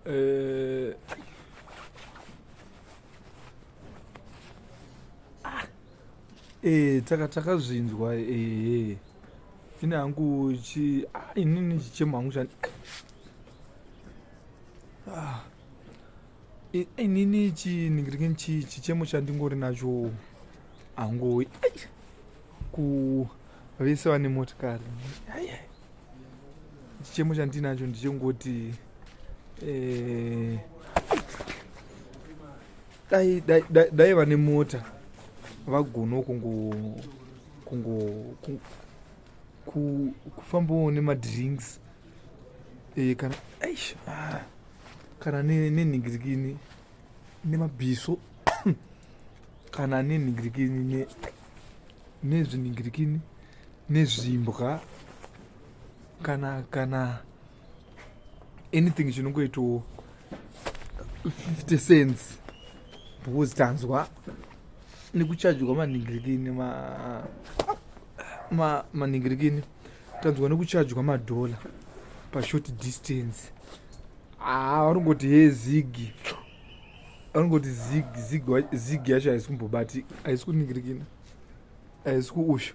Eh, eh, taka takazvinzwa ehe eh, ini hangu chi ah, inini chichemo hangu chani ah. inini chii ningirikini chii chichemo chandingori nacho hangowi ku vese vane motikari chichemo chandinacho ndichongoti eh, dai dai dai dai vane mota vagona kungo kungo ku- ku- kufambawo nemadrinks e, kana eish, ah, kana nenhingirikini ne nemabhiso kana nenhingirikini ne, nezvinhingirikini nezvimbwa kana kana anything chinongoitawo 50 cents because tanzwa nekuchajwa manhingirikini ma, ma, manhingirikini ma tanzwa nekuchajwa madhola pashort distance haa ah, vanongoti he zigi vanongoti zigi zigi zigi yacho haisi kumbobatika haisi kuningirikina haisi kuusha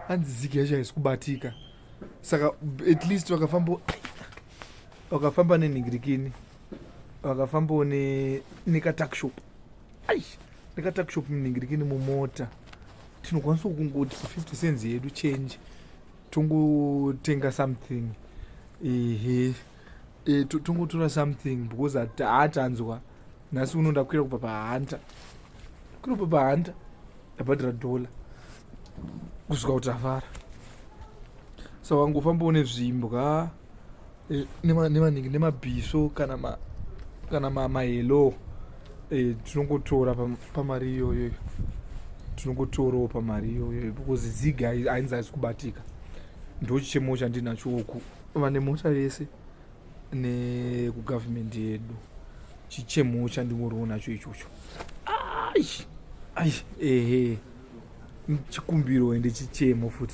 hanzi zigi yacho haisi kubatika saka at least vakafamba vakafamba neningirikini vakafambawo nekatakshop ai nekatakshop muningirikini mumota tinokwanisa kungoti 50 cents yedu change tongotenga something ehe e, tongotora something because hatanzwa nhasi uno ndakwira kubva pahanta kunobva pahanta ndabhadhira dollar kusvika kuti avara so wangofamba une zvimbwa eh, nemaningi nemabhiso kana ma kana mahelo eh, tinongotora pamari iyoyo tinongotorawo pamari iyoyo because ziga ainzi aisi kubatika ndochichemo chandinacho uku vane mota vese nekugovernment yedu chichemo chandingoriwo nacho ichocho ai ai ehe chikumbiro ende chichemo futi